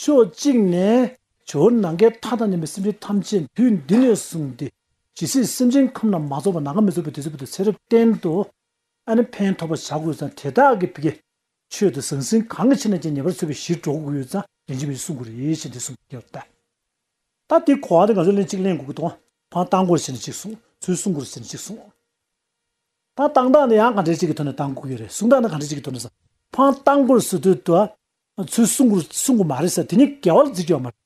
ཕྱོགས་གཅིག་ནས་ཇོ་བོ་ནང་མཁའི་མཐའ་དང་མཉམ་པའི་སེམས་ཅན་ཐམས་ཅད་དུས་འདི་ནས་བཟུང་སྟེ་ཇི་སྲིད་སེམས་ཅན་ཁམས་རྣམས་མ་རྫོགས་པ་ནམ་མཁའ་མི་རྫོགས་པའི་དུས་ཚོད་བར་དུ་ཚེ་རབས་བརྟན་དུ་ཨ་ནེ་ཕན་ཐོགས་པར་བྱ་དགོས་ཙང་དེ་དག་གི་བི་གའི་ཆོས་དང་ཟང་ཟིང་གང་གི་ཕྱིར་ན་ཅིང་ཉེ་བར་འཚོལ་བའི་གཞིར་འགྲོ་དགོས་ཡོད་ཙང་རིན་ཆེན་པོས་གསུངས་དགོས་རེད་ཞེས་འདི་གསུངས་པར་བལྟ། ད་དེའི་གོ་བ་འདི་ང་ཚོས་ལན་གཅིག་གླེང་དགོས་ཀྱི་འདུག་ཨང་བཏང་དགོས་ཞེས་ནི་གཅིག་གསུངས་ཚུལ་གསུང་དགོས་ཞེས་ནི་གཅིག་གསུངས། ད་བཏང་སྟངས་འདི་ཡང་གང་དྲན་གཅིག་གི་ཐོག་ནས་བཏང་དགོས་ཀྱི་རེད་གསུང་སྟངས་འདི་གང་དྲན་གཅིག་གི་ཐོག་ནས་ཟ་འཕང་བཏང་དགོས་ཟེར་དུས་དུ་ང་ཚོས་གསུང་གོ་གསུང་གོ་མ་རེད་ཟེར་དེ་ནི་འགལ་བ་ལ་འཛིན་གྱི་ཡོད་མ་རེད།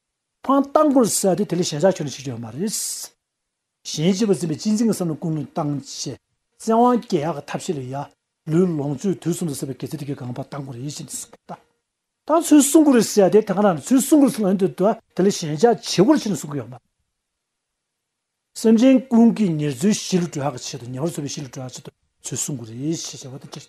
ཕང་བཏང་གོ་ཟེར་དེ་དེ་ལས་གཞན་ཆགས་ཆོག་ནི་བྱེད་ཀྱི་ཡོད་མ་རེད། གཞན་གཅེས་པར་འཛིན་པའི་གཅེས་འཛིན་གྱི་བསམ་བློ་ཀུན་སློང་བཏང་ཆེད་བཙན་དབང་རྒྱལ་ཡག་གི་ཐབས་ཤེས་ལ་ཡ། ལུས་ལོངས་སྤྱོད་དུས་གསུམ་དུ་ཟེར་བའི་གེགས་རྩེ་དེ་གའི་སྒང་པ་བཏང་གོ་རེད་ཡིད་བཞིན་དུ་གསུང་གོ་བཏང་ཚུལ་གསུང་གོ་རེད་ཟེར་དེ་དེ་ག་ནང་ནས་ཚུལ་གསུང་གོ་ཟེར་དེ་དེ་ལས་གཞན་ཆགས་བྱེད་གོ་རེད་ཆེད་ནས་གསུང་གི་ཡོད་མ་རེད། སེམས་ཅན་ཀུན་གྱི་ཉེར་འཚོའི་གཞིས་ལུས་གྲོལ་ཡག་གི་ཆེད་དུ་ཉེ་བར་འཚོ་བའི་གཞིས་ལུས་གྲོལ་ཡག་ཆེད་དུ་ཚུལ་གསུང་གོ་རེད་ཞེས་བྱ་བ་དེ་ཅི།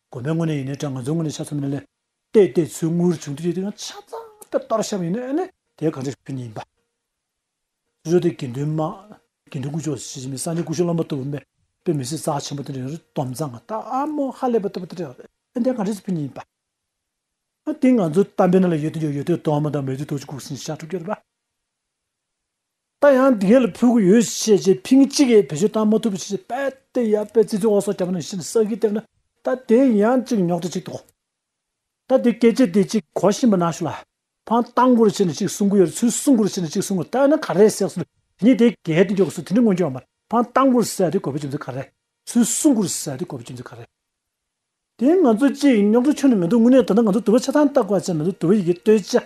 དགོན་པའི་ངོས་ནས་ཡིན་ནའི་དྲ་ང་ཚོའི་ངོས་ནས་ཆ་ཚང་མིན་ན་ལས་དེ་ལྟའི་ཚུལ་དངོས་བྱུང་དུས་དེ་ཡང་ཆ་ཚང་དེ་ལྟར་བཤད་པ་ཡིན་ནའི་ལས་དེ་ག་འདྲའི་ཕན་ཡིན་པ། ཅི་ལྟར་དེ་དགེ་འདུན་མ། དགེ་འདུན་སྐུ་ཕྱོགས་སུ་ཕྱི་ཕྱི་མའི་སངས་རྒྱས་སྐུ་ཞུ་བླ་མ་ལྟ་བུ་མེད་པའི་མི་སྲིད་རྩ་ཆེན་པོ་དེ་འདྲ་ཡང་རེད་དོམ་ཚང་ང་ད་ཨ་མོ་ཧ་ལས་པ་ལྟ་བུ་དེ་འདྲ་ཡང་རེད་དེ་ག་འདྲའི་ཕན་ཡིན་པ། དེ་ང་ཚོའི་གཏམ་དཔེ་ན་ལ་ཡོད་དོན་ཡོད་ཡོད་དོན་དོན་མི་དང་མེད་དོན་དོན་གཅིག་ཁུག་སིན་ཤ་ཕྲུག་གེར་པ། ད་ཡང་དེ་ག་ལ་ཕུལ་གི་ཡོད་ཞེས་བཤད་རྗེས་ཕིང་གཅིག་གིས་བེད་སྤྱོད་བཏང་མ་ཐུབ་པ་ཞེས་དཔལ་ཏེ་ཡབ་པའི་ཙི་ཙི་འོག་སོགས་རྒྱ་མོ་ནང་བཞིན་བསགས་ཀྱིས་བསྟན་ན་ད་དེ་ཡང་ཅིག་ཉོག་དྲ་ཅིག་ཏུ་གོ། ད་དེ་སྐད་ཅེས་དེ་ཅིག་གོ་བཞིན་པ་ན་ཞུ་ལ། ཕང་གཏང་དགོས་རེ་བྱས་ནས་ཅིག་གསུང་གི་ཡོད་རེ་ཚུལ་གསུང་དགོས་རེ་བྱས་ནས་ཅིག་གསུང་གི་ད་ཡིན་ན་ག་རེ་བསགས་ཚུལ་དེ་ཉིད་དེ་གའི་དོན་གྱི་གོ་ཚུལ་དེ་འདྲ་མངོན་གྱུར་བ་མར་ཕང་གཏང་དགོས་རེ་བསགས་དེ་གོ་བའི་རྒྱུ་མཚན་ག་རེ། ཚུལ་གསུང་དགོས་རེ་བསགས་དེ་གོ་བའི་རྒྱུ་མཚན་ག་རེ། དེ་ང་ཚོ་ཅིག་ཉོག་དྲ་ཆོད་ནི་མི་འདུག་དངོས་གནས་ད་ལྟ་ང་ཚོ་དུ་བ་ཆ་ཚང་བཏགས་པ་ཅན་མི་འདུག་དུ་བ་ཡི་གེ་བལྟོས་བཅས་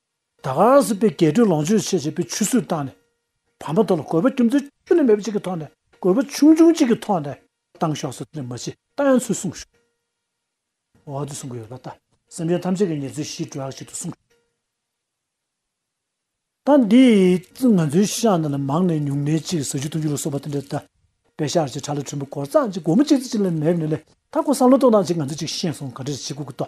ད་གངས་སུ་པའི་རྒྱལ་གྲོལ་ལོངས་སྤྱོད་ཆེ་བྱས་པའི་ཆུ་ཚོད་བཏང་ནས་བར་མ་དོ་ལ་གོས་པ་ཅུང་ཙི་ཅུ་ལས་མེད་པ་ཅིག་གི་ཐོག་ནས་གོས་པ་ཆུང་ཆུང་ཅིག་གི་ཐོག་ནས་བཏང་ཤོག་ཟེར་ནས་མ་ཕྱི་ལྟ་ཡང་ཚུལ་གསུངས་ཤོག་འོ་ཨ་དུས་གསུང་གི་ཡོད་ལ་ལྟ་སེམས་ཅན་ཐམས་ཅད་ཀྱི་ཉེར་འཚོའི་གཞིའི་དྲོད་ཨག་ཅིག་ཏུ་གསུངས་ཤོག་ད་འདི་ང་ཚོའི་ཤག་འདི་ལ་མང་ནས་ཉུང་ནས་ཅིག་ཟ་རྒྱུ་འཐུང་རྒྱུ་ལ་སོགས་པ་དེ་འདྲ་ད་པའི་ཤག་ཅིག་གྲ་ལ་གྲུམ་བུ་གོར་ཙག་ཅིག་སྒོར་མོ་ཅིག་ཙི་ཅིག་ལས་མེད་ནས་ལས་ད་ཁོ་བསམ་བློ་གཏོང་སྟངས་ཅིག་ང་ཚོས་ཅིག་ཤེས་སོང་ག་དྲི་ཞིག་གུག་གི་ཏོ།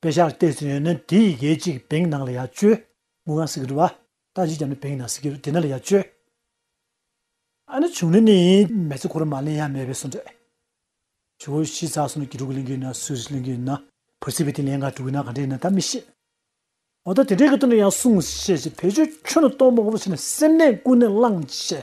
དཔེ་ཆར་བལྟས་ཟིན་ཡོད་ན་དེ་ཡི་གེ་གཅིག་བེང་ནང་ལ་ཡ་བཅོལ། ངུ་ང་སི་གི་རུ་བ། རྟ་བཞི་རྒྱབ་ནི་བེང་ནང་སི་གི་རུ་དེ་ནང་ལ་ཡ་བཅོལ། ཨ་ནི་བྱུང་ནི་ནི་ཡིན། མེ་ཚི་ཁོ་རུ་མ་ལེན་ཡ་མེད་པའི་སུ་འདྲེ། བྱི་བོ་བཞི་ཚ་སུ་ནི་གི་དྲུག་གི་ལིང་གི་ཡིན་ན་སུ་རི་ལིང་གི་ཡིན་ན། བུ་སི་བི་ཏི་ལེན་ག་དྲུག་གི་ནང་ག་འདྲེ་ཡིན་ན་ད་མི་ཤེས། འོ་ད་དེ་འདྲེ་གི་དུ་ནི་ཡང་སུང་ཤེས་ཅི་བེད་སྤྱོད་ཁྱོད་ནི་སྟོང་པ་ངོ་བོ་ཆེ་ནི་སེམས་གནས་ཀུན་ནས་བླང་བྱས།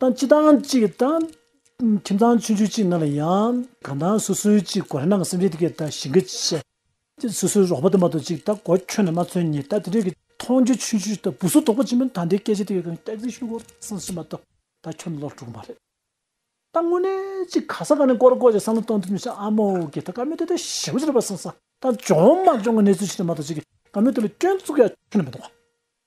ཏང་གཅིག་ཐང་གཅིག་གི་ཏང། ཁྱིམ་ཚང་ཆུང་ཆུང་གཅིག་ནང་ལ་ཡང། གང་ཐང་སོ་སོའི་གཅིག་གོ་རེ་ནང་གི་སེམས་ཅན་དེ་གས་ད་ཞིང་གས་ཅི། ཅི་སོ་སོའི་རོགས་པ་དུ་མ་དང་གཅིག་ད་གོ་ཁྱོད་ནས་མ་ཚོན་ཉིད་ད་དེ་འདྲས་གི། མཐོང་རྒྱུ་ཆུང་ཆུང་ད་བུ་སོ་དོག་པོ་ཆེན་པོ་ད་འདི་སྐད་ཅི་དེ་གས་གང་གས་ཅི་ཤུ་གོ་སང་ཤི་མ་ད་ད་ཁྱོད་ལོག་འགྲོ་གི་མ་རེད། ད་དངོས་གནས་གཅིག་ག་ས་ག་ནས་གོར་གོ་ཅིག་བསམ་བློ་གཏོང་ཐུབ་མི་ཤེས་ཨ་མོ་གས་ད་ག་མོས་ད་ད་ཞེ་བོ་ཅི་རེད་པ་སང་ས་ད་འཇོག་མ་འཇོག་གི་གནས་ཚུལ་ཅི་དེ་མ་ད་ཅི་གས་ག་མོས་དེ་ལ་སྐྱོན་བཙུགས་ཡ་ཁྱོད་ནས་མི་འདུག་ག།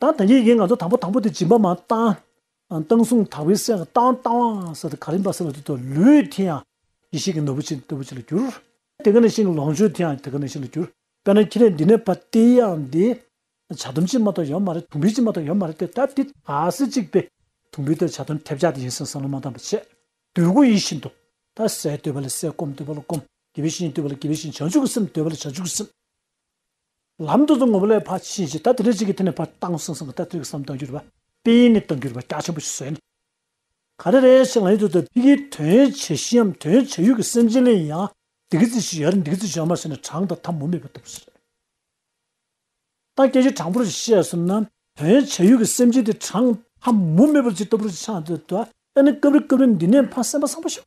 ད་ད་གིན་གིན་ང་ཚོ་དང་པོ་དང་པོ་དེ་སྦྱིན་པ་མ་བཏང། བཏང་སོང་དག་པའི་སྲས་ལ་བཏང་བཏང་བ་ཟེར་ཏེ་ག་རིམ་པ་ཟེར་བ་དེ་དག་ལུས་དེ་ཡང་ཡེ་ཤེས་ཀྱི་ནོར་བུ་ཆེ་འདོད་པོ་ཆེ་ལ་གྱུར། དེ་ག་ནས་ཤིང་གི་ལོངས་སྤྱོད་དེ་ཡང་དེ་ག་ནས་ཤིང་ལ་གྱུར། དཔེར་ན་ཁྱེད་ནས་འདི་ནས་བ་དེ་ཡང་དེ། བྱ་ལྡོམ་ཅིག་མ་ཏོག་ཡོད་མ་རེད་དུང་འབུད་ཅིག་མ་ཏོག་ཡོད་མ་རེད་དེ་ད་དེ་ད་སེ་གཅིག་པས་དུང་འབུད་དང་བྱ་ལྡོམ་ཐེབས་ཆག་དེ་ཡིན་སེམས་སམ་ལ་མ་བཏང་བ་ཆད། འདོད་དགུ་ཡིད་བཞིན་འདོད། ད་སེ་འདོད་པ་ལ་སེ་སྐོམ་འདོད་པ་ལ་སྐོམ། དགེ་བའི་བཤེས་གཉེན་འདོད་པ་ལ་དགེ་བའི་བཤེས་བྱང་ཆུབ་ཀྱི་སེམས་འདོད་པ་ལ་བྱང་ཆུབ་ཀྱི་སེམས། ལམ་དུ་བཟུང་ངོ་བོ་ལས་འཕགས་ཀྱི་ཤེས་བྱེད་ད་དེ་འདྲ་ཅིག་གི་དེ་ནས་བར་སྟང་སིང་སིང་གི་ལྟ་ཚུལ་གསུམ་བཏང་གྱུར་པ་དཔེའི་ནི་བཏང་གྱུར་པ་རྒྱ་ཆེན་པོ་ཞིག་བཟོས་ནས། ག་རེ་རེ་ཞིག་ལ་ཡུལ་དུ་དེ་གི་དོན་བྱེད་གཞིའམ་དོན་བྱ་ཡུལ་གྱི་སེམས་ཅན་ལ་ཡང་འདི་གི་རྩི་ཞིག་ཡར་འདི་གི་རྩི་ཞིག་ཡར་མར་བྱས་ནས་གྲངས་དང་ཐ་མུ་མེད་པར་བཏུབ་ཟེར། ད་སྐད་ཅིག་དྲང་པོར་ཞིག་བཤད་ཟིན་ན་དོན་བྱ་ཡུལ་གྱི་སེམས་ཅན་དེ་གྲངས་ཐ་མུ་མེད་པར་ཅིག་ལྟ་བུར་ཅིག་ཆགས་འདོད་དོ། ད་ནི་སྐབས་རེ་སྐབས་རེ་འདི་ནས་འཕགས་སེམས་དཔའ་སངས་པ་ཞིག།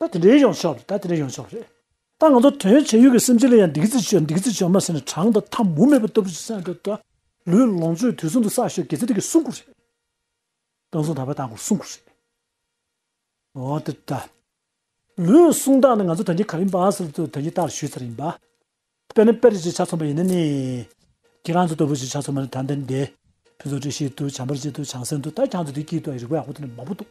ད་དེ་འདྲའི་ཡོང་ཕྱོགས་རེད་ད་དེ་འདྲའི་ཡོང་ཕྱོགས་རེད། ད་ང་ཚོ་དོན་བྱས་ཡུལ་གྱི་སེམས་ཅན་ལ་ཡང་སྡིག་རྩི་བྱོས་སྡིག་རྩི་བྱོས་མ་ཟེར་ནས་གྲང་དང་འཐབ་མུ་མེད་པ་ལྟ་བུ་ཞིག་སེམས་ཁྲོད་དུ། ལུས་ལོངས་སྤྱོད་དུས་གསུམ་དུ་བསགས་ཤོག་གེ་ཚེ་དེ་གི་སྲུང་འཁོར་རེད། དཔོན་ཟོང་ད་བས་བཏང་འཁོར་སྲུང་འཁོར་རེད། འོ་དེ་ལྟ། ལུས་སྲུང་སྟངས་ནི་ང་ཚོ་དོན་གྱི་གར་ཡིན་པ་ཟེར་བ་ལྟ་བུ་དོན་གྱི་རྟགས་ལ་ཞུས་ཚར་ཡིན་པ། དཔེར་ན་དཔེར་བརྗོད་ཅིག་ཆ་མཚོན་པ་ཡིན་ན་ནི། ཁྱེད་རང་ཚོ་ལྟ་བུ་ཞིག་ཆ་མཚོན་པ་ནི་ད་འདིར་འདི། ཕུན་ཚོགས་བཀྲ་ཤིས་འདུག་བྱམས་པར་བྱེད་འདུག་བྱང་སེམས་འདུག་ད་ཁྱང་ཚོ་དེ་སྐྱིད་འདུག་རིག་པའི་ཡག་པོ་འདུག་ནི་མང་པོ་འདུག།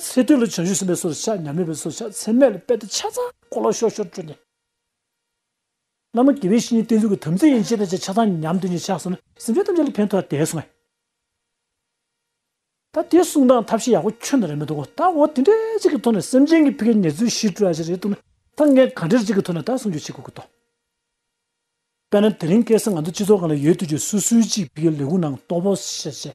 ཚེ་སྟོད་ལ་བྱང་ཆུབ་སེམས་དཔའི་སོར་བཞག་ཉམས་མེད་པའི་སོར་བཞག་ཚད་མེད་ལ་དཔལ་དང་ཕྱག་ཚང་སྐོར་ལ་ཤོར་ཤོར་སྤྲོས་ནས། བླ་མ་དགེ་བའི་བཤེས་གཉེན་བསྟེན་ཚུལ་གྱི་དམ་ཚིག་ཡན་ཆད་ནས་ཕྱག་ཚང་ཉམས་དོན་གྱི་ཕྱག་གསུམ་ལ་སེམས་ཅན་ཐམས་ཅད་ལ་ཕན་ཐོགས་དེ་གསུངས། ད་དེ་གསུངས་སྟངས་ཐབས་ཤེས་ཡག་པོ་ཁྱོན་ན་རེད་མི་འདུག་གོ་ད་འོ་དེ་འདྲའི་ཅིག་གི་ཐོག་ནས་སེམས་ཅན་གྱི་ཕི་གའི་ཉེར་འཚོའི་གཞི་སྤྲོས་ཨ་ཅེ་རེད་འདུག་ན་ད་ངས་གང་འདྲའི་ཅིག་གི་ཐོག་ནས་ད་གསུངས་རྒྱུ་བྱེད་དགོས་ཀྱི་འདུག། དཔེར་ན་དེ་རིང་སྐལ་བཟང་ང་ཚོ་སྤྱི་ཚོགས་གང་ལ་ཡོད་དུས་ཀྱི་སུ་སུའི་ཅིག་ཕི་གའི་ལས་ཁུངས་ནང་གཏོགས་པོ་བྱས།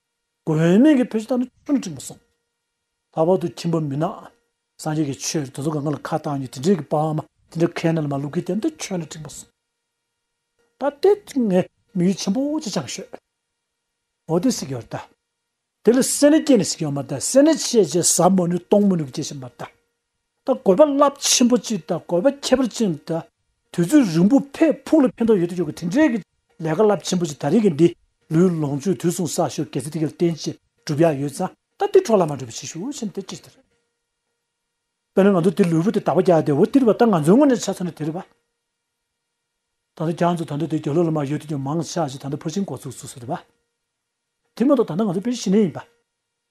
དགོན་སྨན་གྱི་བུ་ཞིག་དང་ཆུང་ནས་ཁྲིད་མ་སོང། ལྷག་པར་དུ་ཁྱིམ་པ་མི་ནག་སངས་རྒྱས་ཀྱི་ཆོས་དེ་ཚོ་ག་ང་ལ་ཁ་བཏགས་ཉིད་དེ་འདྲའི་གི་པདྨ་དེ་འདྲ་ཁས་ན་ལ་མ་ལུག་གི་དེ་འདྲ་ཁྱོད་ནས་ཁྲིད་མ་སོང། ད་ལྟའི་དུས་ངས་མི་ཡུལ་ཆེན་པོ་ཅི་ཆང་ཤོད། འོ་དེ་སྲིད་ཀྱི་བར་ད། དེ་ལ་སེར་སྣས་སྐྱེས་ནས་སྲིད་ཀྱི་བར་མ་ད་སེར་སྣས་ཆས་བྱས་ཟ་མ་ནུས་གཏོང་མ་ནུས་ཀྱི་སྐྱེ་ཤི་མ་ད། ད་གོ་བ་རླབས་ཆེན་པོ་གཅིག་དང་གོ་བ་ཁྱད་པར་ཅན་དུ། དུས་ཚོད་རིང་པོ་ཕས་ཕུགས་ལ་ཕན་ཐོགས་ཡོད་དུ་ཆོག་གི་དེ་འབྲེལ་གྱི་ལས་ཀ་རླབས་ཆེན་པོ་གཅིག་ད་རིང་གི་འདི་ལོའི་ལོངས་སྤྱོད་དུས་གསུངས་གསར་ཤོག་གེ་ཚེ་ཐིག་གེར་བརྟེན་ཅིག་སྒྲུབ་ཡག་ཡོད་ཙང་ད་འདི་འཕྲོ་ལ་མ་འགྲོ་བའི་ཕྱིར་ཤུགས་ཆེན་དེ་ཅིག་ཟེར། དཔེར་ན་ང་ཚོ་འདི་ལོའི་བོད་དུ་དར་བ་རྒྱག་བསྡད་འོ་དེར་བ་ད་ང་ཚོའི་སྔོན་ནས་ཆ་ཚང་ནས་དེར་བ། ད་ལྟ་རྒྱ་མཚོ་ད་ལྟ་དེ་རྒྱ་ལོ་ལ་མ་ཡོད་དུ་ཀྱང་མང་ཆགས་ཅིག་ད་ལྟ་ཕར་ཕྱིན་འགོ་ཚུགས་ཚུགས་ཟེར་བ། དེ་མ་གཏོགས་ད་ལྟ་ང་ཚོ་དཔེར་ཤི་ནས་ཡིན་པ།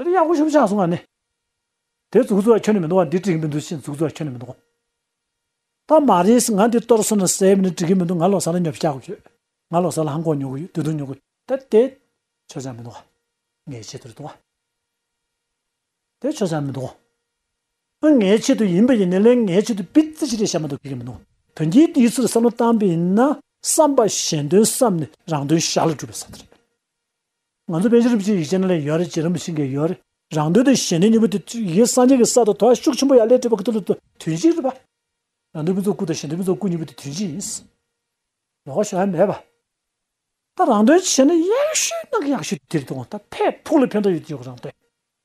དེ་ལ་གཡག་གོ་ཤུབ་ཆགས་སོང་ང་ནི། དེ་རྫུགས་རྫུགས་ཁྱོན་ནས་མི་འདུག་བ་འདི་འགྲིག་གི་མི་འདུག་ཕྱིན་རྫུགས་རྫུགས་ཁྱོན་ནས་མི་འདུག། ད་མ་རེད་ང་འདི་གཏོར་སོང་ན་ཟས་མི་འདུག་འགྲིག་གི་མི་འདུག་ང་ལོག་ས་ལ་ཉོབ་བྱ་གོ་ཡོད། ང་ལོག་ས་ལ་ཧམ་གོག་ཉོ་གི་ཡོད་དུད་དུང་ཉོ་གི་ཡོད་དེ་དེ་ཆོས་ཆགས་མི་འདུག་བ། ངའི་ཆེད་དུ་རེད་འདུག་བ། དེ་ཆོས་ཆགས་མི་འདུག་བ། ཨ་ངའི་ཆེད་དུ་ཡིན་པ་ཡིན་ནའི་ལན་ངའི་ཆེད་དུ་པི་ཙི་ཞིག་རེད་བྱ་མ་འདུག་ཁྱོད་ཀྱིས་མི་འདུག་དོན་གྱིས་དེའི་ཚུལ་བསམ་བློ་བཏང་པ་ཡིན་ན་བསམ་པ་གཞན་དོན་བསམ་ནས་རང་དོན་ཞར་ལ་སྒྲུབ་པའི་ས་ཏེ་རེད། ང་ཚོ་དཔལ་ཆེན་རིན་པོ་ཆེའི་ཡིག་ཆ་ནང་ལས་ཡོད་རེད་ཅེས་རིན་པོ་ཆེས་འགེལ་ཡོད་རེད། རང་དོན་དུ་གཞན་དོན་གཉིས་པོ་དེ་ཡིག་སངས་རྒྱས་ཀྱི་ས་དང་དོ་བ་ཤུགས་ཆེན་པོ་ཡང་ལས་འབྲས་བུ་ག་དུས་ལ་དུས་དོན་གཅིག་རེད་པ། རང་དོན་ཕུན་ཚོགས་སྐུ་དང་གཞན་དོན་ཕུན་ཚོགས་སྐུ་གཉིས་པོ་དེ་དོན་གཅིག་ཡིན། ལོག་ཤོག་ཧ་མས་པ། ད་རང་དོན་བྱས་ན་ཡག་ཤོས་ནག་ཡག་ཤོས་དེ་རེད་འདུག་ད་ཕས་ཕུག་ལ་ཕན་ཐོག་ཡོད་དེ་ཡོད་རང་དོན།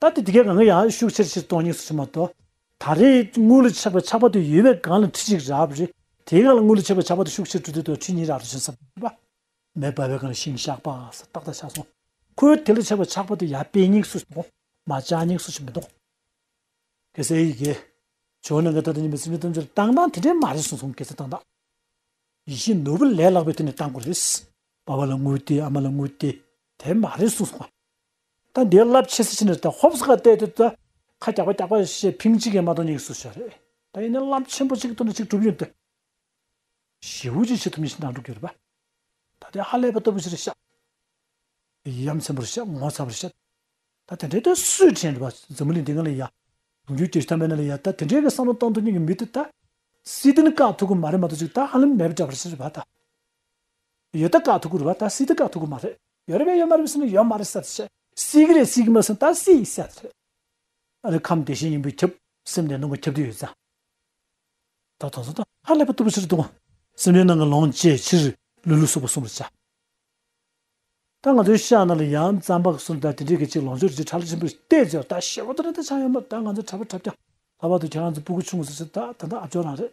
ད་ལྟའི་དེ་གའི་གངས་ཀྱི་ཡང་ཡོད་ཤུགས་ཆེར་ཕྱིར་གཏོང་གཉིས་སུ་ཕྱིན་པ་དང། ད་རེས་དངུལ་ལོ་ཆགས་པའི་ཆགས་པ་དུས་ཡོལ་བའི་སྒང་ལ་ཁྲི་གཅིག་རག་པ་རེད། དེའི་སྔ་ལ་དངུལ་ལོ་ཆགས་པའི་ཆགས་པ་དུས་ཤུགས་ཆེར་དྲུག་ཁྲི་དང་ཁྲི་གཉིས་རག་རེ་བྱུང་ས་བུད་པ། མེ་འབར་བའི་སྒང་ལ་ཤིང་ཤག་པགས་ས་ཏག་ཏག་ཆགས་སོང། ཁོའི་དེ་ལོ་ཆགས་པའི་ཆགས་པ་དུས་ཡར་དཔེ་སྙིགས་སུ་ཕྱིན། མ་ལྕགས་སྙིགས་སུ་ཕྱིན་མི་འདུག། གེ་སེ་ཡིས་གེ། ཇོ་ནང་གི་ད་ལྟ་ཉིན་པའི་སེམས་ཅན་ཐམས་ཅད་ལ་བཏང་བཏང་དེ་འདྲས་མ་རེད་གསུངས་སོང་གེ་སེ་བཏང་བཏང། ཡིད་བཞིན་ནོར་བུ་ལས་ལྷག་པའི་དུས་ནས་བཏང་དགོས་རེད། བ་བ་ལ་དངུལ་ཏེ་ཨ་མ་ལ་དངུལ་ཏེ་དེ་མ་རེད་གསུངས་སོང། ད་འདི་རླབས་ཆེ་སེ་ཆེ་ནས་ད་ཧོབས་ཁ་གཏད་དུ་ད་ཁ་རྒྱག་པ་རྒྱག་པ་ཞེས་ཕིང་གཅིག་གིས་མ་གཏོགས་གཉིས་སུ་ཤོར་རེད་ད་ཡིན་ན་རླབས་ཆེན་པོ་གཅིག་གཏོར་ནས་གཅིག་གྲུབ་ཡོང་དུས་ཞི་བོ་ཅིག་བྱེད་ཐུབ་ཉིན་ཞིག་ནང་འགྲོ་གི་རེད་པ་ད་ལྟའི་ཧ་ལས་པ་ལྟ་བུ་ཞིག་རེད་ཤག་ཡི་ཡ་མཚན་པོ་རེད་ཤག་ངོ་ཚ་བ་རེད་ཤག་ད་དེ་འདྲའི་དུས་སུས་དྲན་རེད་པ་འཛམ་བུ་གླིང་འདི་ང་ལ་ཡ་དུང་རྒྱུ་སྐྱེ་ཤི་ཐ་མལ་ན་ལ་ཡ་ད་དེ་འདྲའི་གི་བསམ་བློ་གཏང་ཐུབ་ཉིན་གི་མི་དེ་ད་སྲིད་དོན་བཀག་ཐུབ་གི་མ་རེད་མ་གཏོགས་གཅིག་ད་ཧ་ལམ་མེད་པ་འདྲ་བ་རེད་ཤག་རེད་པ་ད་ཡོད་ད་ག་ཐུག་གུ་རུ་བ་ད་སྲིད་ད་ག་ཐུག་གུ་མ་རེད་ཡོད་རེད་བས་ཡོད་མ་རེད་བས་སྲིད་མ་ཡོད་མ་རེད་སད་ཆད། སྲིད་གི་རེད་སྲིད་གི་མ་སྲིད་ད་སྲིད་ཡིན་སད་རེད། ཨ་རེ་ཁམས་དེ་བཞིན་ཡིན་པོས་ཁྱབ་སེམས་ལས་ནང་གི་ཁྱབ་བདེ་ཡོད་ད། ད་དོང་ཟོ་ད་ཧ་ལས་པ་ཏུ་པོ་ཕྱིར་ལྟུང་བ། སེམས་ལས་ནང་གི་ལོངས་སྤྱད་ཕྱིར་ལུས་ལུས་སོགས་པ་གསུམ་རེད་ཆ། ད་ང་ཚོའི་ཤ་ན་ལ་ཡང་རྩམ་པ་གསུམ་ད་དེ་འདྲས་གི་ཅིག་ལོངས་སྤྱོད་རེ་ཅིག་ཁྲག་ལ་ཆེན་པོས་བལྟས་ཟེར་བ་ད་ཞེ་བོ་ད་རེད་ད་ཆ་ཡོད་མ་རེད་ད་ང་ཚོའི་གྲྭ་པ་གྲྭ་བརྒྱ་ལྷ་བ་དུ་ཁྱེད་རང་ཚོ་སྤུ་གུ་ཆུང་ཟེར་ཆེད་ད་ད་ད་ཨ་ཇོ་རང་རེད།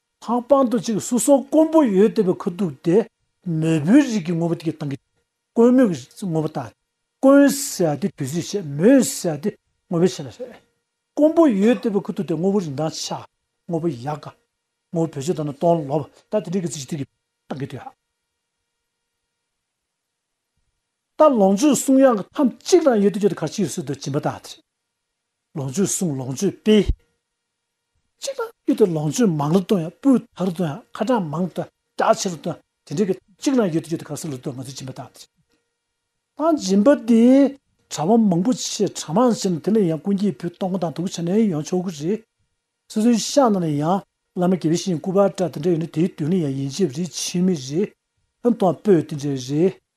ཐང་སྤང་དུ་ཅིག་སུ་སོགས་དཀོན་པོ་ཡོད་ལྟ་བུའི་ཁུ་དུག་སྟེ། མོས་བུའི་རིགས་ཀྱི་ངོ་བོ་དེའི་དང་གི། དཀོན་མོས་ཀྱི་ངོ་བོ་དང། དཀོན་ཟེར་བ་དེ་དུས་ཚོད་ཕྱེད་མོས་ཟེར་བ་དེ་ངོ་བོའི་ཕྱེད་ལ་ཟེར། དཀོན་པོ་ཡོད་ལྟ་བུའི་ཁུ་དུག་སྟེ་ངོ་བོ་རིན་ཐང་ཆ། ངོ་བོ་ཡག་ག། ངོ་བོ་བོད་ཆོས་དང་ནི་སྟོང་ལོ་བ། ད་དེ་རིགས་ཀྱི་ཚིག་གཅིག་དུས་ཀྱི་དང་གི་དུས་ཧ། ད་ལོངས་སྤྱོད་གསུང་དབྱངས་ཀྱི་ཐམས་ཅད་ཀྱི་དང་ཡོད་དུས་ཆོས་དང་གར་ཕྱིར་སོད་དུ་བྱིན་པ་དང་དེ། ལོངས་སྤྱོད་གསུམ་ལོངས་སྤྱོད་སྤེལ། གཅིག་ལ་གཡུ་དེ་ལོངས་སྤྱོད་མང་ལ་སྟོན་ཡང་སྤུ་དག་ལ་སྟོན་ཡང་ཁ་གྲངས་མང་སྟོན་གྲགས་ཆེ་ལ་སྟོན་དེ་འདྲའི་གི་གཅིག་ལའང་གཡུ་དེ་གཡུ་དེ་གར་སོ་ལ་སྟོན་ང་ཚོས་སྦྱིན་པ་དག་དེ་དང་སྦྱིན་པ་དེ་གྲ་བ་མང་པོ་ཆེ་གྲ་མང་ཆེ་ན་དེ་ལ་ཡང་ཀུན་གྱིས་བུ་སྟོང་དང་དུག་བྱ་ནས་ཡང་ཆོག་གི་རེད། སོ་སོའི་ཤ་ན་ལ་ཡང་བླ་མ་དགེ་བའི་བཤེས་གཉེན་སྐུ་པར་གྲ་དེ་འདྲ་ཡོད་ན་དེའི་དོན་ལ་ཡང་ཡིན་གཅིག་རེད་ཕྱི་མི་རེད་ལ་སྟོང་སྤོས་དེ་འདྲ་རེད།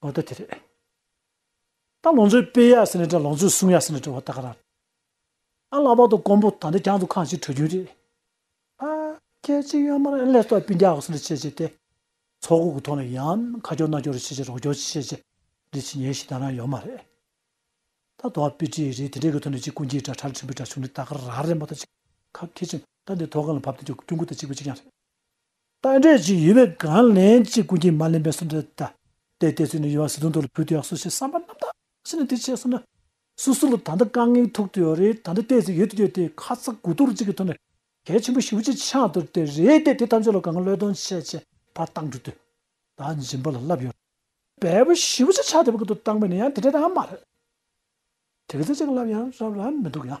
འོ་ད་དེ་རེད། ད་ལོངས་ཚོད་སྤེལ་ཡག་ཟེར་ནས་དྲ་ལོངས་ཚོད་སྲུང་ཡག་ཟེར་ནས་དྲ་བ་ད་ག་ར། ཨ་ལག་པ་དང་ཀོང་པོ་ད་འདི་གྱང་དུ་ཁང་གཅིག་གྲོལ་རྒྱུན་རེད། ཨ་སྐད་གཅིག་ཡོད་མར་ཨེ་ལས་སྟོབས་སྤུན་རྒྱག་ཟེར་ནས་བྱས་བྱས་ཏེ། ཚོགས་སྒོ་གི་ཐོག་ནས་ཡང་ཁ་སྐྱོར་སྣ་སྐྱོར་རེ་བྱས་བྱས་རོགས་སྐྱོར་བྱས་བྱས་རེ་བྱས་ཉེས་ཞིག་ད་རང་ཡོད་མ་རེད། ད་དོ་བ་དཔེ་བྲིས་རེད་དེ་འདྲས་གི་ཐོག་ནས་ཅིག་ཀུན་གྱིས་དྲ་ཁྲར་འཕྲིན་པའི་དྲ་ཆུང་འདི་ད་ག་ར་རེད་མོ་ད་ཅིག་ཁ་ཁེ་ཅིང་ད་འདི་ཐོག་ཁང་ལ་བབ་དེ་ཀྱང་སྐྱུང་ཁུ་ད་ཅིག་པོ་ཅིག་ཀྱང་རེད། རྟ་དྲེལ་གྱི་ཡུ་བའི་སྒང་ལན་གཅིག་ཀུན་གྱིས་མ་ལེན་པའི་སུམ་རྟགས་དེ། དེ་ལྟས་ཚུལ་ནི་ཡུ་བ་བཟི་དོང་དུ་ལ་བུད་དུ་ཡང་སོ་ཞེས་བསམ་པ་རྣམ་དག་ཕྱིན་ནས་དེ་བྱས་སོ་ན། སུ་སུ་ལ་ད་ལྟ་རྐང་ངེའི་ཐུག་ཏུ་ཡོད་རེད་ད་ལྟ་ལྟས་ཚུལ་ཡོད་དུ་ཡོད་དེ་ཁ་ཚ་དགུ་གཏོར་གཅིག་གི་ཐོག་ནས་གལ་ཆེན་པོ་བཞི་བོ་གཅིག་ཆགས་འདུག་དེ་རེད་དེ་དེ་ཐམས་ཅད་ལ་གང་བློས་གཏོང་བྱས་བྱས་བར་བཏང་འགྲོ་དུས་ད་འཇིམ་པ་ལ་བསླབ་ཡོད་པའི་བུ་བཞི་བོ་གཅིག་ཆགས་དེ་བ་ཀུན་ཏུ་བཏང་པས་ནི་ཡང་དེ་འདྲ་ད་མ་རེད་དེ་གི་ཚེ་གཅིག་བསླབ་ཡང་རབ་ར་མི་འདུག་ཡང།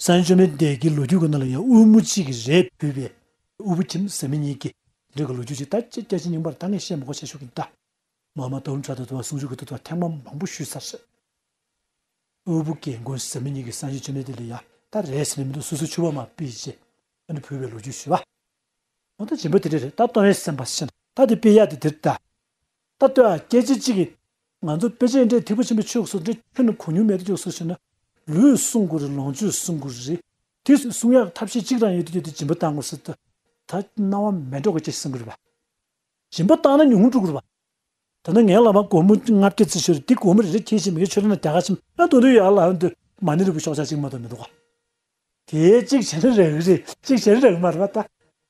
ས་བོན་བཅོས་མའི་འདས་ཀྱི་ལོ་རྒྱུས་ཀྱི་ནང་ལ་ཡང་དབུལ་མོ་གཅིག་གིས་རས་བུས་པའི་དབུལ་པོ་ཁྱིམ་ཟ་མི་གཉིས་ཀྱི་འབྲེལ་གྱི་ལོ་རྒྱུས་ཅིག་ད་ཅི་སྐད་ཅིག་རྙིང་པར་ད་ངས་བཤད་མི་གོ་བྱེད་ཤོག་གིན་ད། མ་མ་དུམ་བྲ་དུ་དུ་བ་ཟུང་ཆུ་གི་དུ་དུ་བ་ཐེངས་མ་མང་པོ་བཤུས་ཚར་རེད། དབུལ་པོ་རྒན་རྒོན་ཟ་མི་གཉིས་ཀྱི་ས་བོན་བཅོས་མའི་འདས་ལ་ཡང་ད་རས་ཟེར་ནི་མི་འདུག་སོ་སོའི་ཆུ་བ་མ་སྤེལ་རྗེས་ད་ནི་བུས་པའི་ལོ་རྒྱུས་ཞུས་པ། འོ་ད་རྗེས་འབུད་དེ་འདྲ་རེད་ད་སྟོང་བའི་སེམས་པ་ཤེས་ན་ད་དེ་སྤེལ་ཡག་འདུག་དེར་ད། ད་ལྟོས་ཨ་སྐད་ཅིག་གཅིག་གིས། ང་ཚོ་དཔེ་ཆའི་འབྲས་ཐིགས་པོ་ཆེན་པོའི་ཕྱོགས་སུ་འདྲི་ཁྱོད་ནི་གོ་མྱོང་མེད་དུ་བཅུག་སོ་ཞེ་ན། ལུས་བསྲུང་དགོས་རེད་ལོངས་སྤྱོད་བསྲུང་དགོས་རེད། དུས་བསྲུང་ཡག་ཐབས་ཤེས་གཅིག་རང་ཡོད་དུ་ཡོད་དུ་སྦྱིན་པ་བཏང་དགོས་སོ། ད་སྣང་བ་མེད་འགྲོ་དགོས་ཀྱི་བསྲུང་དགོས་རེད་པ། སྦྱིན་པ་བཏང་ན་ཉུང་ངུ་འགྲོ་དགོས་རེད་པ། ད་ནི་ངའི་ལག་པ་སྒོར་མོ་ལྔ་བརྒྱ་རྩིས་ཤོར་འདི་སྒོར་མོ་རེ་རེ་ཁྱེར་བཞིན་མི་ཁྱོད་ཆོས་ལ་ན་རྒྱ་གར་ཆེན་པོ་ན་དུང་དུང་ཡག་ལ་ཨ་འདོད་མ་ནི་རི་བོ་ཤོག་ཆག་གཅིག་མ་གཏོགས་མི་འདུག་ག། དེའི་གཅིག་བྱེད་ན་རག་གི་རེད་གཅིག་བྱེད་ན་རག་མ་རེད་པ་ད།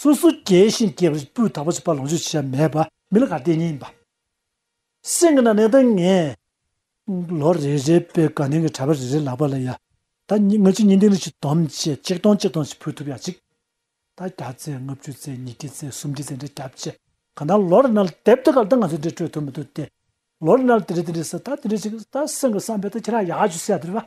སོ་སོ་སྐྱེ་ཞིང་སྐྱེ་བ་སྤུས་དག་པོ་བྱེད་པ་ལོངས་སྤྱོད་བྱེད་བྱ་མེད་པ་མི་ལ་ག་ཏེ་གཉིས་ཡིན་པ། སེམས་ཀྱི་ནང་ནས་ལྟ་ངན། ལོ་རེ་རེ་པའི་དགའ་ལྡན་གྱི་གྲྭ་པ་རེ་རེ་ལག་པ་ལ་ཡ། ད་ངོ་ཅིག་ཉིན་འདི་ནས་ཅིག་དོམ་བཅས་གཅིག་སྟོང་གཅིག་སྟོང་ཅིག་ཕུལ་ཐུབ་ཡ་ཅིག། ད་བརྒྱ་བཙས་ལྔ་བཅུ་བཙས་ཉིས་བརྒྱ་བཙས་སུམ་བརྒྱ་བཙས་འདྲ་བརྒྱ་བཅས་གང་ལྟར་ལོ་རེ་ན་དེབ་དེ་ག་ལ་ད་ང་ཚོས་འདིར་སྤྲོད་ཐུབ་མི་ཐུབ་སྟེ། ལོ་རེ་ན་དེ་འདྲ་དེ་འདྲ་ཟེར་ད་དེ་འདྲ་ཅིག་ད་སེམས་ཀྱི་བསམ་པས་ད་ཁྱེད་རང་ཡག་ཅིག་བསད་དེ་རེད་པ།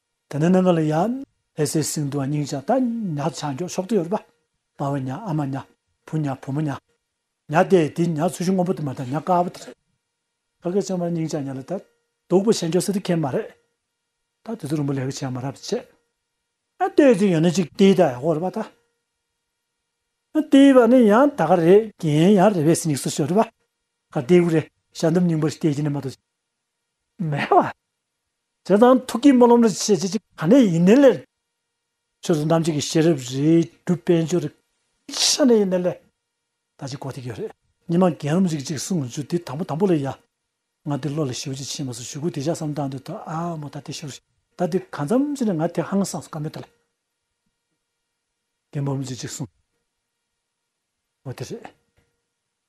དེ་ནས་ནང་ག་ལ་ཡ། ལྷས་སའི་སིང་དུ་བ་སྙིང་ཆ་ད་ཉག་ཆ་མགྱོགས་ཕྱོགས་དུ་ཡོར་པ། དཔའ་བོ་ཉག་ཨ་མ་ཉག་བུ་ཉག་བུ་མོ་ཉག། ཉག་དེ་དེ་ཉག་ཚུལ་ཤུ་སྔོན་པོ་དུ་མ་ད་ཉག་དཀར་བོ་དེ་རེད། ཕ་གི་ཆང་བ་སྙིང་ཆ་ཉག་ལ་ད། སྡུག་པོ་བྱེད་མགྱོགས་སེ་དེ་ཁེ་མ་རེད། ད་དེ་ཚོ་རིང་པོ་ལས་ཀ་བྱས་མ་རབ་ཏུ་བྱས། ཨ་ཏེ་དེ་ཡང་ན་ཅིག་ཏེ་ད་ཡག་པོ་རེད་པ་ད། ཨ་ཏེ་བ་ནི་ཡང་ད་ག་རེད་རྒན་ཡང་རེད་བས་སི་ཉིག་སུ་ཤོར་རེད་པ། ག་ཏེ་གུ་རེ་ཞག་འདུམ་སྙིང་པོ་ཞིག་ཏེ་ཅི་ནས་མ་ཏོ། མེ་བ། དེ་དང་ཐུགས་ཀྱི་སྨོན་ལམ་ལ་ཆེས་ཆེ་ཆེ་ག་ནས་ཡིན་ནའི་ལེ། ཆོས་ཚོགས་རྣམས་ཀྱི་གི་ཤེས་རབ་རེ་སྒྲུབ་དཔལ་འབྱོར་རེ་ཆ་ནས་ཡིན་ནའི་ལེ། ད་ཅི་གོ་ཐིག་ཡོད་རེད། ཉི་མ་རྒན་རབས་ཅིག་ཅིག་གསུང་ངོ་ཅུ་དེ་དང་པོ་དང་པོ་ལེ་ཡ། ང་དེ་བློ་ལ་ཞིབ་ཅིག་ཕྱིན་མ་སོང་ཞུ་གུ་དེ་བཞག་བསམ་བཏང་འདོད་ད་ཨ་མོ་ད་དེ་ཤོར། ད་དེ་གང་འཚམ་ཅི་ནས་ང་དེ་ཧང་སངས་སུ་ག་མེད་ད་ལེ། རྒན་འབུམ་རམས་ཅིག་ཅིག་གསུང་ངོ་དེ་རེད།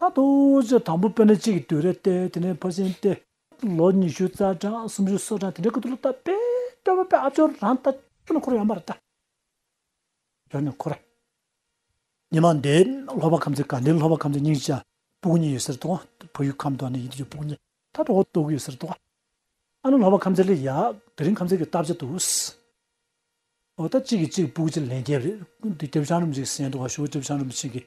ད་དུང་ཅི་དང་པོ་དཔེར་ན་གཅིག་གིས་དུས་རབས་སྟེ་དེ་ནས་ཕར་ཕྱིན་ཏེ། ལོ་ཉི་ཤུ་རྩ་གྲངས་སུམ་ཅུ་སོ་གྲངས་དེ་འདྲའི་སྐབས་དུ་ལོ་བཏབ་པས་སྟོན་པ་པའི་ཨ་ཅོ་རང་ལྟ་ཅོ་ནི་འཁོར་ཡང་མར་ལྟ་ཅོ་ནི་འཁོར། ཉི་མ་འདི་ལྷོ་བ་ཁམས་ཚེ་གང་འདི་ལྷོ་བ་ཁམས་ཚེ་སྙིང་ཅག་སྤུ་གུ་གཉིས་ཡོད་སར་དོག་བོད་ཡུལ་ཁམས་དོག་ནི་ཡིད་དུ་ཡོད་སྤུ་གུ་གཉིས་ད་དོག་བོ་དོག་ཡོད་སར་དོག། ཨ་ནི་ལྷོ་བ་ཁམས་ཚེ་ལི་ཡག་དེ་རིང་ཁམས་ཚེ་གི་བཏབ་ཅི་དུ་སི། ཨོ་ད་གཅིག་གིས་གཅིག་སྤུ་གུ་གཅིག་ལན་རྒྱབ་རེད་དེ་རྒྱབ་བྱང་རུམ་གཅིག་གསན་དུ་བ་ཞུགས་རྒྱབ་བྱང་རུམ་གཅིག་གིས་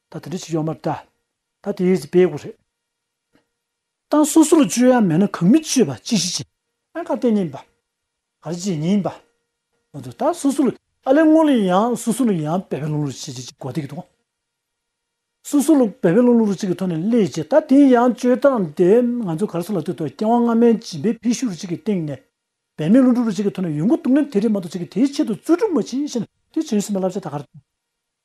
ད་དེ་འདྲ་ཞིག་ཡོད་མ་རེད་ད། ད་དེ་ཡོད་ཅིག་སྤེལ་དགོས་རེད། ཏང་སོ་སོར་བཅོས་ཡ་མེད་ན་གང་མི་བཅོས་པ་ཅི་ཞིག་བྱེད་ཨང་ག་དེ་ཉིན་པ། ག་རེ་བྱེད་ཉིན་པ། མ་འདུག་ད་སོ་སོར་ཨ་ལས་སྔོ་ལས་ཡང་སོ་སོར་ཡང་བེ་བེ་ལུང་ལུར་བྱེད་ཅིག་ཅིག་གོ་དེ་གི་འདུག་ཨང། སོ་སོར་བེ་བེ་ལུང་ལུར་ཅིག་གི་ཐོག་ནས་སླེ་བྱེད་ད་དེ་ཡང་བཅོས་སྟངས་དེ་ང་ཚོ་ག་རེ་སོ་ལ་ལྟོས་དོ་རྐྱེན་དབང་སྔ་མའི་སྦྱིན་པའི་འཕེལ་ཤུགས་རེ་ཅིག་གི་སྟེང་ནས་བེ་མེད་ལུང་སྒྲུབ་རེ་ཅིག་གི་ཐོག་ནས་ཡོང་གི་འདུག་ན་དེ་རེད་མ་འདུག་ཅིག་གི་དེའི་ཆེད་དུ་རྩོད་སྒྲུབ་མ་བྱེད་ཤེ་ན་དེ་བྱེད་ཡོད་སྲིད་མ་ལབ་བྱ་ད་ག་རེ།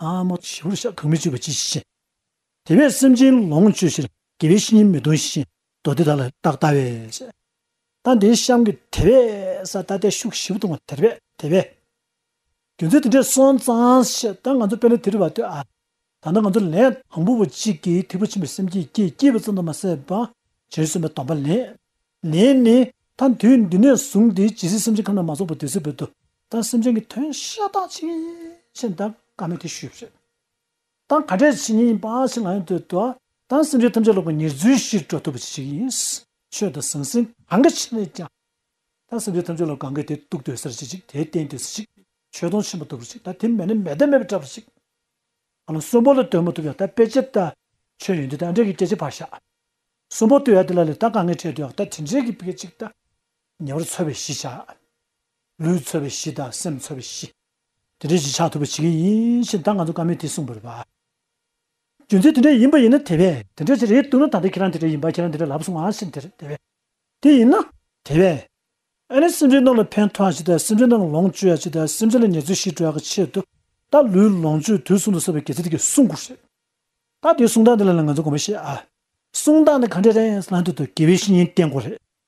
ཨ་མ་བྱིའུ་རུ་ཤ་གང་མི་བཅོས་པ་ཅི་བྱེད། དེ་བས་སེམས་ཅན་ལོངས་སྤྱོད་ཕྱིར་དགེ་བའི་བཤེས་གཉེན་མི་གདུང་ཞིང་མདོ་སྡེ་དག་ལ་རྟག་ལྟ་བས། ད་འདིའི་གཤམ་གྱི་དེ་བས་ས་ལྟ་བསྟན་བཤུག་ཞིབ་གཏོང་བ་དེར་བས་དེ་བས། རྒྱུ་མཚན་དེ་འདྲས་སོང་ཙང་ཞེས་ད་ང་ཚོ་དཔེ་ལས་དེ་རུ་བ་ལྟོས་ཨ། ད་ལྟ་ང་ཚོ་ལན་དང་པོ་བ་གཅིག་གིས་ཐེག་པ་ཆེན་པོའི་སེམས་བསྐྱེད་སྐྱེས་སྐྱེས་པ་ཙམ་དུ་མ་ཟད་པ། བྱོལ་སོང་པའི་དམ་པ་ལེན། ལེན་ནི། ད་དུས་འདི་ནས་བཟུང་སྟེ་ཇི་སྲིད་སེམས་ཅན་ཁམས་ན་མ་ཚོགས་པ་དུས་སྲིད་བོད་དུ་ད་སེམས་ཅན་གྱི་དོན་ཤ་སྟག་ཕྱིན་ཆད་འདའ་ཀ་མེད་དེ་ཞུས་པ་རེད། ད་ག་འདྲའི་བྱས་ཉེས་ཡིན་པ་ཞིག་ང་ཡང་འདོད་དོ། ད་སེམས་ཅན་ཐམས་ཅད་ལོག་པའི་ཉེར་འཛུལ་ཞིག་འགྲོ་ཐུབ་པ་ཞིག་ཡིན། ཆོས་དང་ཟང་ཟིང་གང་གི་ཕྱི་ནས་ཀྱང། ད་སེམས་ཅན་ཐམས་ཅད་ལ་གང་གི་དེ་གཏུགས་འདོད་སར་ཅིག་དེ་བསྟེན་འདོད་སར་ཅིག་ཆོས་སྡོང་ཆེན་པོ་འདུག་པ་ཞིག་ད་དེ་མེད་ན་མེ་ད་མེད་པ་འདྲ་པ་ཞིག། ང་ལ་གསོན་པོ་ལ་སྡོད་མ་ཐུབ་ཡང་ད་དཔེ་ཆ་ད་ཆོས་ཡོད་འདི་ད་འདྲེ་གི་སྐད་ཆ་ཕར་བཞག། གསོན་པོ་སྡོད་ཡ་དེ་ལ་ལས་ད་ག་ངས་བྲལ་འདོད་ཡ་ད་དེ་འདྲེ་གི་སྐད་ཅིག་ད་ཉེ་བར་འཚོལ་བའི་གཞི་བཞག། ལུས་ཚོལ་བའི་གཞི་དང་སེམས་ཚོལ་བའི་གཞི། དེ་འདྲའི་གཞི་ཆགས་ཐུབ་པ་བྱེད་མཁན་ཡིན་ཕྱིན་ད་ང་ཚོ་ཀ་མེད་དེ་གསུངས་པར་རིགས་པ། རྒྱུ་མཚན་དེ་འདྲ་ཡིན་པ་ཡིན་ན་དེ་བས་དེ་འདྲ་ཞིག་རེད་འདུག་ན་ད་ལྟ་ཁྱེད་རང་དེ་འདྲ་ཡིན་པ་ཁྱེད་རང་དེ་འདྲ་ལབ་སོང་ང་ཕྱིར་དེ་བས་དེ་ཡིན་ན། དེ་བས། ཨ་ནི་སེམས་ཅན་རྣམས་ལ་ཕན་ཐོགས་ཡ་བྱེད་དང་སེམས་ཅན་རྣམས་ལ་ལོངས་སྤྱོད་ཡ་བྱེད་དང་སེམས་ཅན་ལ་ཉེར་འཚེ་ཞི་འགྲོ་ཡ་གི་ཆེད་དུ་ད་ལུས་ལོངས་སྤྱོད་དུས་གསུངས་འདུག་ཟེར་བ་གལ་ཆེ་དེ་གི་གསུངས་དགོས་རེད། ད་དེ་གསུངས་སྟངས་འདི་ལ་ལ་ང་ཚོ་དགོངས་པ་བཞེས་ཨ། གསུངས་སྟངས་འདི་ག་འདྲ་རེད་ལ་འདི་དུ་དགེ་བའི་བཤེས་གཉེན་བསྟེན་དགོས་རེད།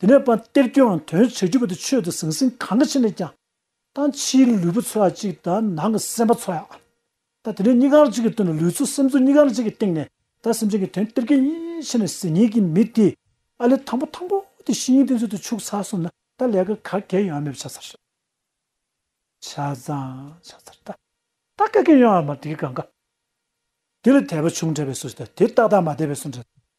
དེ་ནས་པ་ཏེར་ཁྱོད་དོན་བྱས་གྱུར་པ་དེ་ཆོས་དེ་ཟང་ཟིང་གང་གི་ཕྱིར་ནས་ཀྱང། ད་ཕྱིའི་ལུས་པོ་ཚོལ་བ་གཅིག་དང་ནང་གི་སེམས་པ་ཚོལ་ཡང། ད་དེ་ནས་གཉི་ག་གཅིག་གི་དོན་ལ་ལུས་ཚོ་སེམས་ཚོ་གཉི་ག་གཅིག་གི་སྟེང་ནས་ད་སེམས་ཅན་གྱི་དོན་ཏེར་ཁྱོད་ཕྱིན་ནས་ཟིན་ཉིད་ཀྱི་མི་དེས་ཨ་ལས་དང་པོ་དང་པོ་དེ་བཤེས་གཉེན་དེ་ཚོ་དེ་ཕྱུགས་ཚར་སོང་ན་ད་ལས་ཀ་ག་གེ་ཡོང་བ་མེད་པ་ཆ་ཚར། ཆ་ཚང་ཆ་ཚར་ད་ད་ག་གེ་ཡོང་བ་མ་དེ་གི་གང་ག། དེ་ལ་དད་པ་བྱུང་འདྲ་བས་སོ་ཞེས་ད་དེ་ཏག་ཏག་མ་དད་པས་སོ་འདྲ།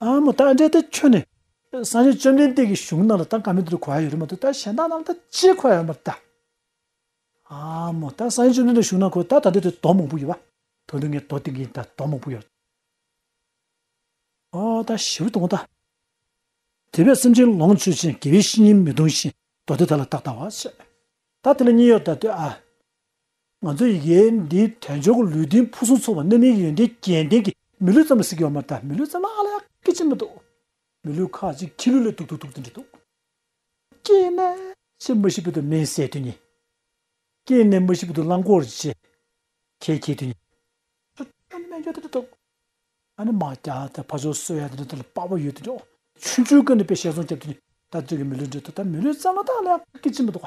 ཨ་མོ་ད་འདྲེ་དེ་ཁྱོད་ནི། སངས་རྒྱས་བཅོམ་ལྡན་འདས་ཀྱི་གཞུང་རྣམས་ལ་ད་ག་མི་དེ་རུ་གོ་བ་ཡོད་རེད་མ་ཏུ་ད་གཞན་དག་རྣམས་ད་ཅི་གོ་བ་ཡོད་མ་རེད་ད། ཨ་མོ་ད་སངས་རྒྱས་བཅོམ་ལྡན་འདས་གཞུང་རྣམས་གོ་ད་ད་འདྲེ་དེ་དོག་མང་པོ་ཡོད་བ། དོན་དུ་ངས་དོག་དེ་གིན་ད་དོག་མང་པོ་ཡོད། ཨ་ད་ཞི་བུ་དོག་མོ་ད། དེ་བས་སེམས་ཅན་ལོངས་སྤྱོད་ཅན་དགེ་བའི་བཤེས་གཉེན་མི་གདུང་ཞིང་དོག་དེ་ད་ལ་དག་ད་བ། ད་དེ་ལ་གཉིས་ཡོད་ད་དེ་ཨ། ང་ཚོས་ཡི་གེ་འདིའི་དོན་ཆོག་གི་ལུས་རྟེན་ཕུན་སུམ་ཚོགས་པ་སྣོད་མིན་ཡོན་ཏན་རྒྱན་ལྡན་གྱི་མི་ལུས་ཙམ་ལ་ཟེར་གྱི་ཡོད་མ་ད་མི་ལུས་ཙམ་ལ་ཨ་ལ་ཡག་གི་ཅི་མི་འདུག་མི་ལུས་ཁ་ཅིག་ཁྱི་ལུས་ལས་སྡུག་ཏུ་འདུག་ཏུ་འདྲི་འདུག། སྐྱེས་ནས་ཕྱིར་མི་ཤི་བོ་དུ་མའི་ཟས་དུས་ཉིད། སྐྱེས་ནས་མི་ཤི་བོ་དུ་རླངས་འཁོར་གྱི་ཁལ་འཁྱེར་དུས་ཉིད། ཁྱོད་ཀྱི་སྨན་སྦྱོར་དེ་འདྲ་འདུག། ཨ་ནི་མ་རྒྱ་དེ་ཕ་ཆོག་སོ་ཡ་དེ་འདྲ་དེ་ལ་དཔའ་བོ་ཡོད་དུ་འགྲོ། ཆུ་འཇུ་ཀུན་ནས་པའི་ཞལ་ཟུང་བསྐྱབས་དུས་ཉིད། ད་ཚོད་ཀྱི་མི་ལུས་འདྲ་འདུག་ད་མི་ལུས་ཙམ་ལ་ད་ཨ་ལ་ཡག་གི་ཅི་མི་འདུག།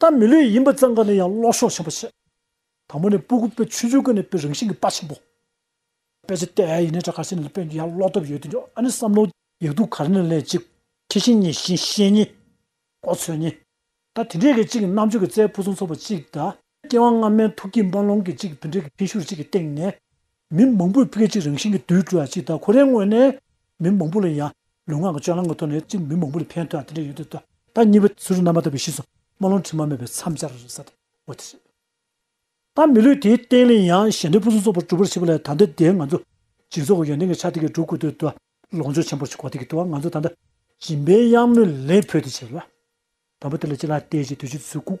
ད་མི་ལུས་ཡིན་པ་ཙམ་ག་ནས་ཡང་ལོག་ཤོག་ཆེན་པོ་བྱེད། དང་པོ་ནས་སྤུ་གུ་དཔེ་ཆུང་ཆུང་ག་ནས་དཔེ་རང་བཞིན་གྱི་དཔའ་ཆེན་པོ། དཔེ་ཆེ་སྟེ་ཨའི་ཡིན་ནས་དྲ་གར་ཆེ་ནས་ལ་དཔེ་འདི་ཡང་ལོག་ཐབས་ཡོད་དེ་འདྲ་ཨ་ནི་བསམ་ནོ། ཡིག་དུག་གར་ནས་ལེན་ཅིག། ཁྱི་བཞིན་གཉིས་བཞིན་ཤེས་གཉིས། ཀོ་ཚོད་གཉིས། ད་དེ་འདྲའི་གི་གཅིག་གི་རྣམ་དཔྱོད་ཀྱི་རྩལ་ཕུན་སུམ་ཚོགས་པ་གཅིག་གདའ། སྐྱེ་བ་སྔ་མའི་ཐུགས་ཀྱི་འབར་ལོང་གི་གཅིག་དུད་འགྲེལ་གྱི་འཕེན་ཤུགས་གཅིག་གི་སྟེང་ནས། མི་མང་པོས་སྐད་ཅིག་རང་བཞིན་གྱི་དུད་འགྲོ་བ་གཅིག་དང་ཁོ་རའི་ངོས་ནས། མི་མང་པོ་ལ་ཡང་ལུས་ངག་གི་སྤྱོད་ལམ་གྱི་ཐོག་ནས་གཅིག་མི་མང་པོ་ལ་འཕེན་ཐུག་ཡང་དེ་འདྲ་ཡོད་དུས་ད་ལྟ་གཉིས་པོ་ཚུར་རྣམ་པ་དག་པའི་གཤིས་སུ་རྨ་ལོང་དྲི་མ་མེད་པའི་མཚམས་སྦྱར་བར་ཟད་འོ་དེ་རེད། ད་མི་ལུས་དེའི་སྟེང་ལས་ཡང་གཞན་འདྲེ་ཕུན་སུམ་ཚོགས་པར་གྲུབ་པར་བྱེད་པ་ལས་ད་ལྟ་དེ་ང་ཚོ་སྦྱིན་བཟོ་གི་ཡོན་ཏན་གྱི་ཆ་དེ་གས་སྒྲུབ་དགོས་དུས་ད་ལོངས་སྤྱོད་ཆེན་པོར་བྱེད་དགོས་དེ་གི་དུས་ང་ཚོ་ད་ལྟ་སྦྱིན་པའི་གཡང་མོས་ལེན་ཕོད་དེ་བྱེད་ལ། དང་པོ་དེ་ལ་ཅི་ལ་བལྟས་ཀྱི་དུས་ཀྱི་ཚུལ་ཁུག།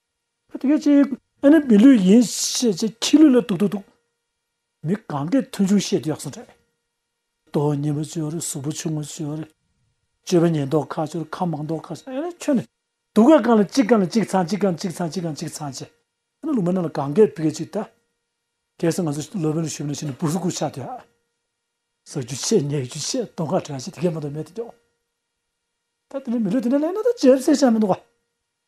དེ་ག་ཅི། ཨ་ནི་མི་ལུས་ཡིན། ཞེས་བྱས་ཁྱི་ལུས་ལ་དུག་དུག་དུག། མི་གང་གའི་མཐུན་ཕྱུང་ཤེས་གཡག་སོ་འདྲ། ལྟོ་བ་སྙན་པོ་སྤྱོར་གཟུགས་པོ་ཆུང་ངུ་སྤྱོར། སྤྱོད་པ་ཉེན་རྟོག་ཁ་སྤྱོར་ཁ་མང་རྟོག་ཁ་སྤྱོར་ཨ་ནི་ཁྱོད་ནི། དུག་ག་གང་ལ་གཅིག་གང་ལ་གཅིག་ཚང་གཅིག་གང་གཅིག་ཚང་གཅིག་གང་གཅིག་ཚང་ཅི། ཨ་ནི་ལུག་མ་ནང་ལ་གང་གའི་བུ་ག་ཅིག་བལྟ། གལ་སྲིད་ང་ཚོ་སློབ་དཔོན་ལ་ཞུས་པ་ན་ཤི་ནས་སྤུ་སུ་ཁུག་ཆགས་དུས་ཨ། ཟག་རྒྱུ་ཆེ་ཉལ་རྒྱུ་ཆེ་སྟོང་ཁ་བྲལ་ཆེ་དེ་གས་མ་གཏོགས་མེད་དེ་སྐྱོ། ད་དེ་འདྲའི་མི་ལུས་དེ་འདྲ་ལས་ན་ད་ཇེབ་སེ་ཤ་མི་འདུག་ག།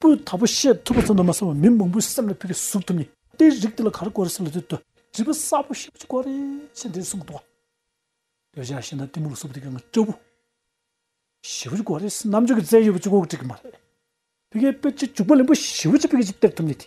པོའི་མཐའ་པོ་ཤེས་ཐུབ་པ་ཚོ་ནི་མ་སོང་བའི་མི་མང་པོའི་སེམས་ལ་ཕུལ་བའི་གཟུགས་ཐུབ་ནི་དེའི་རིགས་དེ་ལ་ག་རེ་བཀོལ་རེ་ཟེར་ལ་དེ་དུ་བྲིས་པ་གསར་པོ་ཞིག་བཀོལ་རེ་ཞེས་འདིར་གསུངས་འདུག་བ། འདོད་ཆགས་ཤེས་ན་གཏི་མུག་ལ་སོགས་པ་དེ་གའང་སྐྱོ་བོ། ཞི་བོ་ཅིག་བཀོལ་རེ་ཟེར་རྣམ་དཔྱོད་ཀྱི་རྩལ་ཡོད་པ་ཅིག་བཀོལ་དགོས་ཀྱི་མ་རེད། དེ་གའི་དཔེ་ཆ་འཇུག་པ་ལེན་པོ་ཞི་བོ་ཅིག་དཔེ་ག་ཅིག་སྟེར་ཐུབ་ནི་དེ།